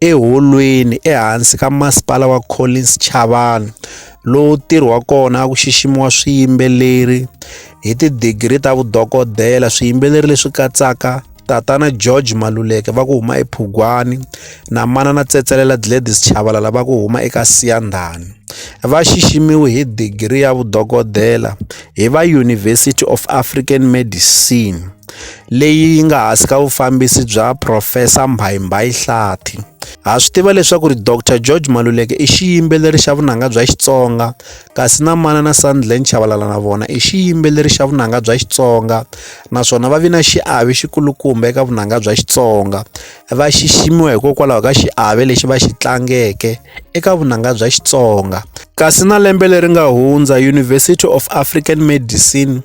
eHolweni ehansi ka Masipala wa Collins Chavani, lowu ntirho wa kona a ku xiximiwa swiyimbeleri hi tidigri ta vudokodela, swiyimbeleri leswi katsaka Tatana George Maluleke va ku huma ePhugwani na Manana Tsetselela Gladys Chavalala va ku huma eka Siyandhani. Va xiximiwe hi digri ya vudokodela hi va University of African Medicine. leyi yi nga hansi ka vufambisi bya Profesa Mbhayimbayi Hlathi. Ha swi tiva leswaku ri Dr George Maluleke i xiyimbeleri xa vunanga bya Xitsonga kasi na mana na Sandland Chavalala na vona i xiyimbeleri xa vunanga bya Xitsonga naswona va vi na xiave xikulukumba eka vunanga bya Xitsonga va xiximiwa hikokwalaho ka xiave lexi va xi tlangeke eka vunanga bya Xitsonga kasi na lembe leri nga hundza University of African Medicine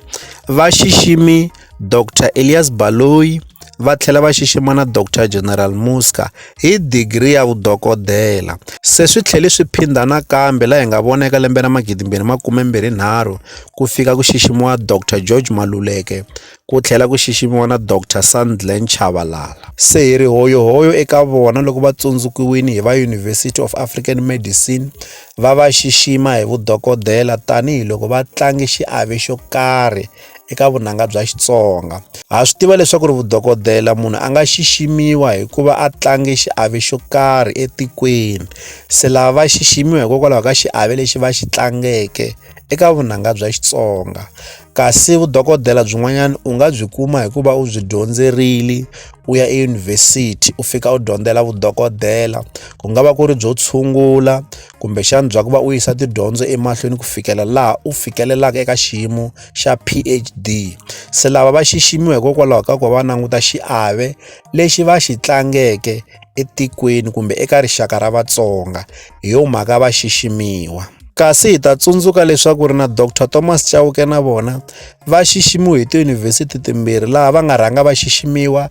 va xiximi Dr Elias Baloyi va tlhela va xixima na Dr General Muzka hi digri ya vudokodela. Se swi tlhele swi phindha nakambe laha hi nga vona eka lembe ra 2023 ku fika ku xiximiwa Dr George Maluleke ku tlhela ku xiximiwa na Dr Sandile Nchavalala. Se hi ri hoyohoyo eka vona loko va tsundzukiwile hi va University of African Medicine va va xixima hi vudokodela tanihi loko va tlange xiave xo karhi eka vunanga bya Xitsonga. Ha swi tiva leswaku ri vudokodela munhu a nga xiximiwa hikuva a tlange xiave xo karhi etikweni se lava va xiximiwa hikokwalaho ka xiave lexi va xi tlangeke eka vunanga bya Xitsonga kasi vudokodela byin'wanyana u nga byi kuma hikuva u byi dyondzerile u ya eyunivhesiti u fika u dyondzela vudokodela ku nga va ku ri byo tshungula kumbexana bya ku va u yisa tidyondzo emahlweni ku fikela laha u fikelelaka eka xiyimo xa PhD. Se lava va xiximiwa hikokwalaho ka ku va languta xiave lexi va xi tlangeke etikweni kumbe eka rixaka ra Vatsonga, hi yo mhaka va xiximiwa. Kasi hi ta tsundzuka leswaku ri na Dr Thomas Chauke na vona va xiximiwe hi tiyunivhesiti timbirhi laha va nga rhanga va xiximiwa